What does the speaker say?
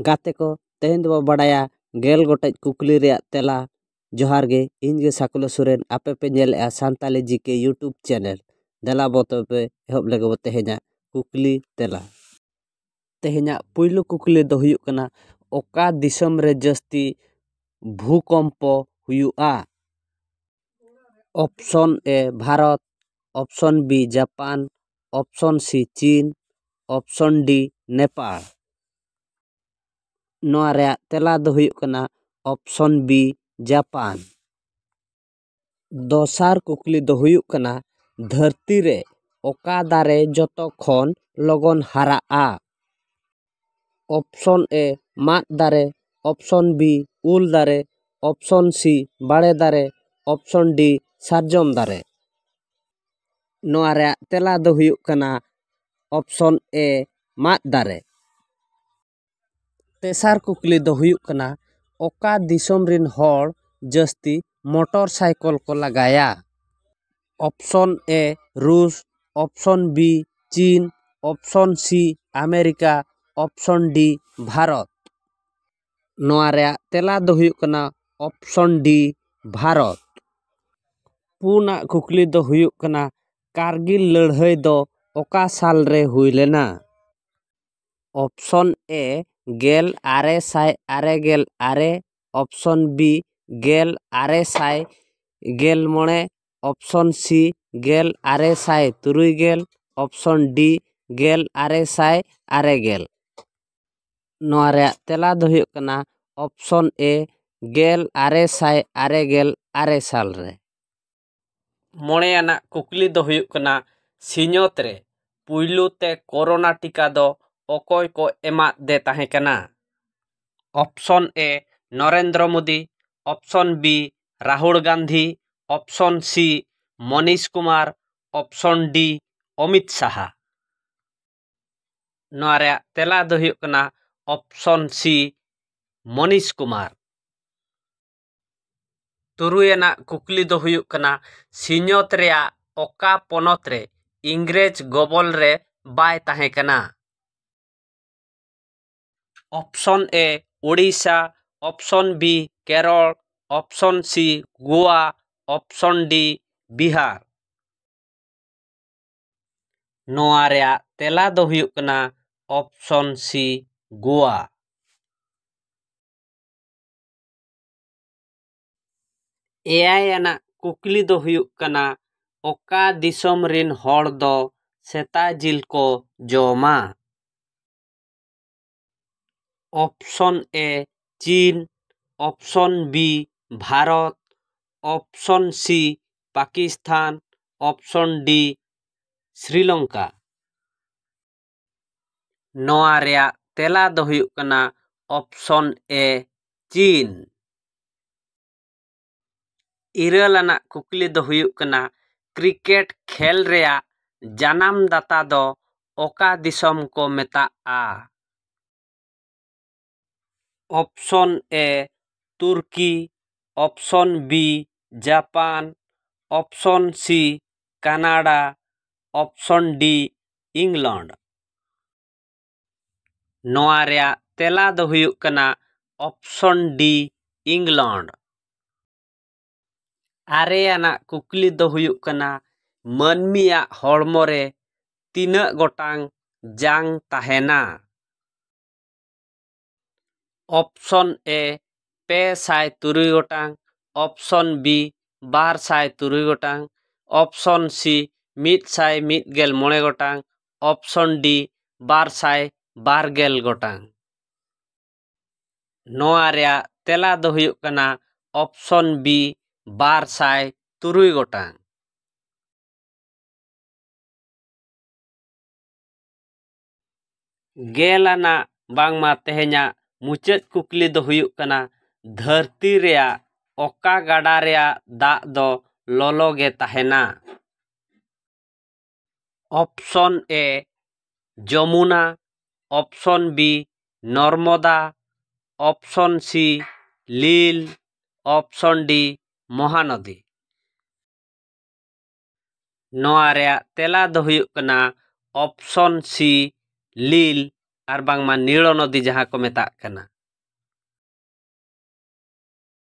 ᱜᱟᱛᱮ ᱠᱚ ᱛᱮᱦᱮᱧ ᱫᱚᱵᱚ ᱵᱟᱰᱟᱭᱟ ᱜᱮᱞ ᱜᱚᱴᱮᱡ ᱠᱩᱠᱞᱤ ᱨᱮᱭᱟᱜ ᱛᱮᱞᱟ ᱡᱚᱦᱟᱨ ᱜᱮ ᱤᱧ ᱜᱮ ᱥᱟᱠᱩᱞᱟ ᱥᱚᱨᱮᱱ ᱟᱯᱮ ᱯᱮ ᱧᱮᱞᱮᱜᱼᱟ ᱥᱟᱱᱛᱟᱞᱤ ᱡᱤ ᱠᱮ ᱤᱭᱩᱴᱩᱵᱽ ᱪᱮᱱᱮᱞ ᱫᱮᱞᱟ ᱵᱚ ᱛᱚᱵᱮ ᱮᱦᱚᱵ ᱞᱮᱜᱮ ᱵᱚ ᱛᱮᱦᱮᱧᱟᱜ ᱠᱩᱠᱞᱤ ᱛᱮᱞᱟ ᱛᱮᱦᱮᱧᱟᱜ ᱯᱩᱭᱞᱩ ᱠᱩᱠᱞᱤ ᱫᱚ ᱦᱩᱭᱩᱜ ᱠᱟᱱᱟ ᱚᱠᱟ ᱫᱤᱥᱚᱢ ᱨᱮ ᱡᱟᱹᱥᱛᱤ ᱵᱷᱩᱠᱚᱢᱯᱚ ᱦᱩᱭᱩᱜᱼᱟ option A Bharat option B Japan option C ᱪᱤᱱ ᱚᱯᱷᱥᱚᱱ ᱰᱤ ᱱᱮᱯᱟᱞ ᱱᱚᱣᱟ ᱨᱮᱭᱟᱜ ᱛᱮᱞᱟ ᱫᱚ ᱦᱩᱭᱩᱜ ᱠᱟᱱᱟ ᱚᱯᱷᱥᱚᱱ ᱵᱤ ᱡᱟᱯᱟᱱ ᱫᱚᱥᱟᱨ ᱠᱩᱠᱞᱤ ᱫᱚ ᱦᱩᱭᱩᱜ ᱠᱟᱱᱟ ᱫᱷᱟᱹᱨᱛᱤ ᱨᱮ ᱚᱠᱟ ᱫᱟᱨᱮ ᱡᱚᱛᱚ ᱠᱷᱚᱱ ᱞᱚᱜᱚᱱ ᱦᱟᱨᱟᱜᱼᱟ ᱚᱯᱷᱥᱚᱱ ᱮ ᱢᱟᱫ ᱫᱟᱨᱮ ᱚᱯᱷᱥᱚᱱ ᱵᱤ ᱩᱞ ᱫᱟᱨᱮ ᱚᱯᱷᱥᱚᱱ ᱥᱤ ᱵᱟᱲᱮ ᱫᱟᱨᱮ ᱚᱯᱷᱥᱚᱱ ᱰᱤ ᱥᱟᱨᱡᱚᱢ ᱫᱟᱨᱮ ᱱᱚᱣᱟ ᱨᱮᱭᱟᱜ ᱛᱮᱞᱟ ᱫᱚ ᱦᱩᱭᱩᱜ ᱠᱟᱱᱟ ᱚᱯᱷᱥᱚᱱ ᱮ ᱢᱟᱫ ᱫᱟᱨᱮ ᱛᱮᱥᱟᱨ ᱠᱩᱠᱞᱤ ᱫᱚ ᱦᱩᱭᱩᱜ ᱠᱟᱱᱟ ᱚᱠᱟ ᱫᱤᱥᱚᱢ ᱨᱮᱱ ᱦᱚᱲ ᱡᱟᱹᱥᱛᱤ ᱢᱚᱴᱚᱨ ᱥᱟᱭᱠᱮᱞ ᱠᱚ ᱞᱟᱜᱟᱭᱟ ᱚᱯᱷᱥᱚᱱ ᱮ ᱨᱩᱥ ᱚᱯᱷᱥᱚᱱ ᱵᱤ ᱪᱤᱱ option C America option D Bharat ᱱᱚᱣᱟ ᱨᱮᱭᱟᱜ ᱛᱮᱞᱟ ᱫᱚ ᱦᱩᱭᱩᱜ ᱠᱟᱱᱟ ᱚᱯᱷᱥᱚᱱ ᱰᱤ ᱵᱷᱟᱨᱚᱛ ᱯᱩᱱᱟᱜ ᱠᱩᱠᱞᱤ ᱫᱚ ᱦᱩᱭᱩᱜ ᱠᱟᱱᱟ ᱠᱟᱨᱜᱤᱞ ᱞᱟᱹᱲᱦᱟᱹᱭ ᱫᱚ ᱚᱠᱟ ᱥᱟᱞ ᱨᱮ ᱦᱩᱭ ᱞᱮᱱᱟ ᱚᱯᱷᱥᱚᱱ ᱮ ᱜᱮᱞ ᱟᱨᱮ ᱥᱟᱭ ᱟᱨᱮ ᱜᱮᱞ ᱟᱨᱮ ᱚᱯᱥᱚᱱ ᱵᱤ ᱜᱮᱞ ᱟᱨᱮ ᱥᱟᱭ ᱜᱮᱞ ᱢᱚᱬᱮ ᱚᱯᱥᱚᱱ ᱥᱤ ᱜᱮᱞ ᱟᱨᱮ ᱥᱟᱭ ᱛᱩᱨᱩᱭ ᱜᱮᱞ ᱚᱯᱥᱚᱱ ᱰᱤ ᱜᱮᱞ ᱟᱨᱮ ᱥᱟᱭ ᱟᱨᱮ ᱜᱮᱞ ᱱᱚᱣᱟ ᱨᱮᱭᱟᱜ ᱛᱮᱞᱟ ᱫᱚ ᱦᱩᱭᱩᱜ ᱠᱟᱱᱟ ᱚᱯᱥᱚᱱ ᱮ ᱜᱮᱞ ᱟᱨᱮ ᱥᱟᱭ ᱟᱨᱮ ᱜᱮᱞ ᱟᱨᱮ ᱥᱟᱞ ᱨᱮ ᱢᱚᱬᱮ ᱟᱱᱟᱜ ᱠᱩᱠᱞᱤ ᱫᱚ ᱦᱩᱭᱩᱜ ᱠᱟᱱᱟ ᱥᱤᱧᱚᱛ ᱨᱮ ᱯᱩᱭᱞᱩ ᱛᱮ ᱠᱳᱨᱳᱱᱟ ᱴᱤᱠᱟ ᱫᱚ ᱚᱠᱚᱭ ᱠᱚ ᱮᱢᱟᱫ ᱫᱮ ᱛᱟᱦᱮᱸ ᱠᱟᱱᱟ option A Narendra Modi option B Rahul Gandhi option C Manish Kumar option D Amit Saha ᱱᱚᱣᱟ ᱨᱮᱭᱟᱜ ᱛᱮᱞᱟ ᱫᱚ ᱦᱩᱭᱩᱜ ᱠᱟᱱᱟ ᱚᱯᱷᱥᱚᱱ ᱥᱤ ᱢᱚᱱᱤᱥ ᱠᱩᱢᱟᱨ ᱛᱩᱨᱩᱭ ᱟᱱᱟᱜ ᱠᱩᱠᱞᱤ ᱫᱚ ᱦᱩᱭᱩᱜ ᱠᱟᱱᱟ ᱥᱤᱧᱚᱛ ᱨᱮᱭᱟᱜ ᱚᱠᱟ ᱯᱚᱱᱚᱛ ᱨᱮ ᱤᱝᱨᱮᱡᱽ ᱜᱚᱵᱚᱞ ᱨᱮ ᱵᱟᱭ ᱛᱟᱦᱮᱸ ᱠᱟᱱᱟ option A Odisha option B Kerala option C Goa option D Bihar ᱱᱚᱣᱟ ᱨᱮᱭᱟᱜ ᱛᱮᱞᱟ ᱫᱚ ᱦᱩᱭᱩᱜ ᱠᱟᱱᱟ ᱚᱯᱷᱥᱚᱱ ᱥᱤ ᱜᱳᱣᱟ ᱮᱭᱟᱭ ᱟᱱᱟᱜ ᱠᱩᱠᱞᱤ ᱫᱚ ᱦᱩᱭᱩᱜ ᱠᱟᱱᱟ ᱚᱠᱟ ᱫᱤᱥᱚᱢ ᱨᱮᱱ ᱦᱚᱲ ᱫᱚ ᱥᱮᱛᱟ ᱡᱤᱞ ᱠᱚ ᱡᱚᱢᱟ option A China option B Bharat option C Pakistan option D Sri Lanka ᱱᱚᱣᱟ ᱨᱮᱭᱟᱜ ᱛᱮᱞᱟ ᱫᱚ ᱦᱩᱭᱩᱜ ᱠᱟᱱᱟ ᱚᱯᱥᱚᱱ ᱮ ᱪᱤᱱ ᱤᱨᱟᱹᱞ ᱟᱱᱟᱜ ᱠᱩᱠᱞᱤ ᱫᱚ ᱦᱩᱭᱩᱜ ᱠᱟᱱᱟ ᱠᱨᱤᱠᱮᱴ ᱠᱷᱮᱞ ᱨᱮᱭᱟᱜ ᱡᱟᱱᱟᱢ ᱫᱟᱛᱟ ᱫᱚ ᱚᱠᱟ ᱫᱤᱥᱚᱢ ᱠᱚ ᱢᱮᱛᱟᱜᱼᱟ option A Turkey option B Japan option C Canada option D England ᱱᱚᱣᱟ ᱨᱮᱭᱟᱜ ᱛᱮᱞᱟ ᱫᱚ ᱦᱩᱭᱩᱜ ᱠᱟᱱᱟ ᱚᱯᱥᱚᱱ ᱰᱤ ᱤᱝᱞᱚᱱᱰ ᱟᱨᱮ ᱟᱱᱟᱜ ᱠᱩᱠᱞᱤ ᱫᱚ ᱦᱩᱭᱩᱜ ᱠᱟᱱᱟ ᱢᱟᱹᱱᱢᱤᱭᱟᱜ ᱦᱚᱲᱢᱚ ᱨᱮ ᱛᱤᱱᱟᱹᱜ ᱜᱚᱴᱟᱝ ᱡᱟᱝ ᱛᱟᱦᱮᱱᱟ ᱚᱯᱥᱚᱱ ᱮ ᱯᱮ ᱥᱟᱭ ᱛᱩᱨᱩᱭ ᱜᱚᱴᱟᱝ ᱚᱯᱥᱚᱱ ᱵᱤ ᱵᱟᱨ ᱥᱟᱭ ᱛᱩᱨᱩᱭ ᱜᱚᱴᱟᱝ ᱚᱯᱥᱚᱱ ᱥᱤ ᱢᱤᱫ ᱥᱟᱭ ᱢᱤᱫ ᱜᱮᱞ ᱢᱚᱬᱮ ᱜᱚᱴᱟᱝ ᱚᱯᱥᱚᱱ ᱰᱤ ᱵᱟᱨ ᱥᱟᱭ ᱵᱟᱨ ᱜᱮᱞ ᱜᱚᱴᱟᱝ ᱱᱚᱣᱟ ᱨᱮᱭᱟᱜ ᱛᱮᱞᱟ ᱫᱚ ᱦᱩᱭᱩᱜ ᱠᱟᱱᱟ ᱚᱯᱥᱚᱱ ᱵᱤ ᱵᱟᱨ ᱥᱟᱭ ᱛᱩᱨᱩᱭ ᱜᱚᱴᱟᱝ ᱜᱮᱞ ᱟᱱᱟᱜ ᱵᱟᱝᱢᱟ ᱛᱮᱦᱮᱧᱟᱜ ᱢᱩᱪᱟᱹᱫ ᱠᱩᱠᱞᱤ ᱫᱚ ᱦᱩᱭᱩᱜ ᱠᱟᱱᱟ ᱫᱷᱟᱹᱨᱛᱤ ᱨᱮᱭᱟᱜ ᱚᱠᱟ ᱜᱟᱰᱟ ᱨᱮᱭᱟᱜ ᱫᱟᱜ ᱫᱚ ᱞᱚᱞᱚ ᱜᱮ ᱛᱟᱦᱮᱱᱟ option A Yamuna option B Narmada option C Nile option D Mahanadi ᱱᱚᱣᱟ ᱨᱮᱭᱟᱜ ᱛᱮᱞᱟ ᱫᱚ ᱦᱩᱭᱩᱜ ᱠᱟᱱᱟ ᱚᱯᱥᱚᱱ ᱥᱤ ᱞᱤᱞ ᱟᱨ ᱵᱟᱝᱢᱟ ᱱᱤᱲᱚ ᱱᱚᱫᱤ ᱡᱟᱦᱟᱸ ᱠᱚ ᱢᱮᱛᱟᱜ ᱠᱟᱱᱟ